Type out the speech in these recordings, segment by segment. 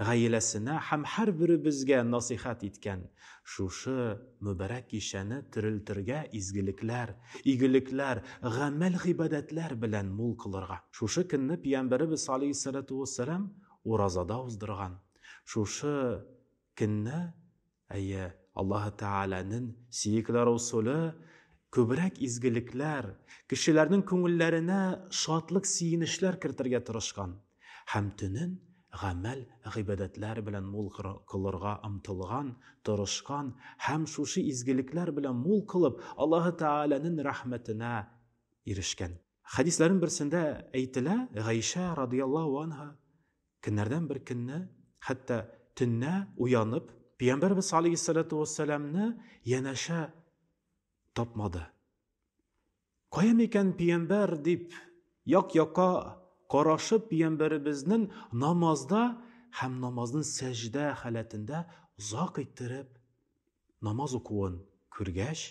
гаиләсенә һәм һәрберебезгә насыйхәт иткән шушы мөбарәк кичәне терелтергә, изгелекләр, игелекләр, гамәл-гыйбадәтләр белән мул кылырга. Шушы көнне пиямбәребез алейһиссәләтү уәссәлам уразада уздырган, шушы көнне Әйе, Аллаһы Тәгаләнен сөекләр усуле күбрәк изгелекләр, кешеләрнең күңелләренә шатлык, сөенечләр кертергә тырышкан һәм төнен гамәл, гыйбадәтләр белән мул кылырга омтылган, тырышкан һәм шушы изгелекләр белән мул кылып, Аллаһы Тәгаләнен рәхмәтенә ирешкән. Хәдисләрнең берсендә әйтелә, Гайшә радияллаһу анһа көннәрдән бер көнне, хәтта төннә уянып, Пәйгамбәрбез алейһиссалату вассаламны янәшә тапмады. Кая микән Пәйгамбәр дип як-якка карашып Пәйгамбәребезнең намазда һәм намазның сәҗдә халәтендә озак иттереп намаз укуын күргәч,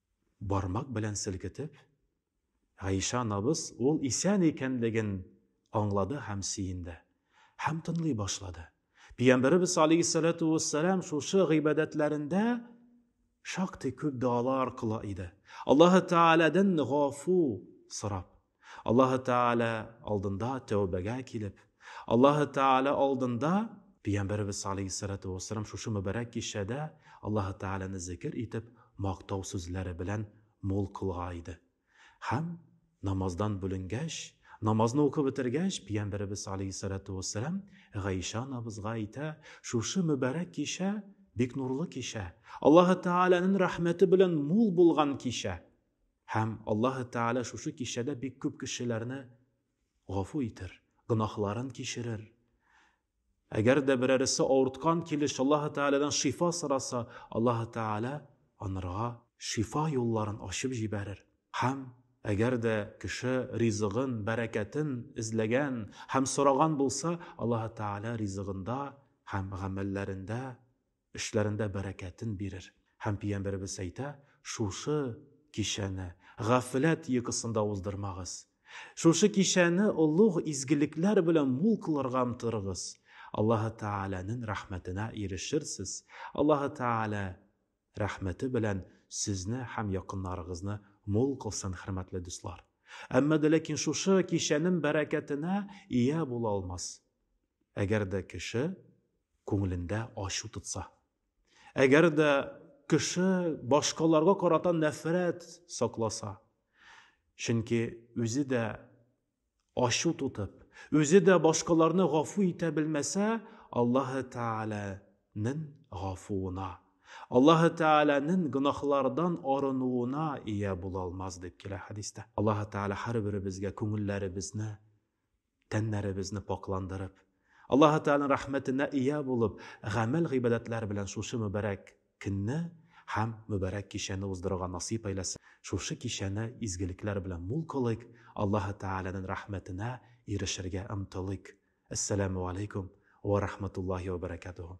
Бармак белән селкетеп, Гайшә анабыз ул исән икәнлеген аңлады һәм сөенде. Һәм тынлый башлады. Пиямбәребез алейһиссәләтү вәссәлам шушы гыйбадәтләрендә шактый күп дуалар кыла иде. Аллаһы Тәгаләдән гафу сорап. Аллаһы Тәгалә алдында тәүбәгә килеп, Аллаһы Тәгалә алдында Пәйгамбәребез алейһиссалату вассалам шушы мөбарәк кичәдә Аллаһы Тәгаләне зикер итеп, мактау сүзләре белән мул кылга иде. Һәм намаздан бүленгәч, намазны укып бетергәч, Пәйгамбәребез алейһиссалату вассалам Гайшә анабызга әйтә, шушы мөбарәк кичә бик нурлы кичә, Аллаһы Тәгаләнең рәхмәте белән мул булган кичә. Һәм Аллаһы Тәгалә шушы кичәдә бик күп кешеләрне гафу итер, гөнаһларын кичерер. Әгәр дә берәресе авырткан килеш Аллаһы Тәгаләдән шифа сораса, Аллаһы Тәгалә анырга шифа юлларын ачып җибәрер. Һәм әгәр дә кеше ризыгын, бәрәкәтен эзләгән һәм сораган булса, Аллаһы Тәгалә ризыгында һәм гамәлләрендә Эшләрендә бәрәкәтен бирер. Һәм Пиямбәребез әйтә, Шушы кичәне гафләт йокысында уздырмагыз. Шушы кичәне олуг изгелекләр белән мул кылырга омтырыгыз. Аллаһы Тәгаләнен рәхмәтенә ирешерсез. Аллаһы Тәгалә рәхмәте белән сезне һәм якыннарыгызны мул кылсын, хөрмәтле дуслар. Әмма дә ләкин шушы кичәнен бәрәкәтенә ия була алмас. Әгәр дә кеше күңелендә ачу тотса, әгәр дә кеше башкаларга карата нәфрәт сакласа, чөнки үзе дә ачу тотып, үзе дә башкаларны гафу итә белмәсә, Аллаһы Тәгаләнең гафуына, Аллаһы Тәгаләнең гөнаһлардан арынуына ия була алмас дип килә хәдистә. Аллаһы Тәгалә һәрберебезгә күңелләребезне тәннәребезне пакъландырып, Аллаһ Тәгаләнең рәхмәтенә ия булып, гамәл гыйбадәтләр белән шушы мөбарәк көнне һәм мөбарәк кичәне уздырырга насыйп әйләсен. Шушы кичәне изгелекләр белән мул кылыйк, Аллаһ Тәгаләнең рәхмәтенә ирешергә омтылыйк. Әссәламү алейкум уә рәхмәтуллаһи уә бәрәкәтүһү.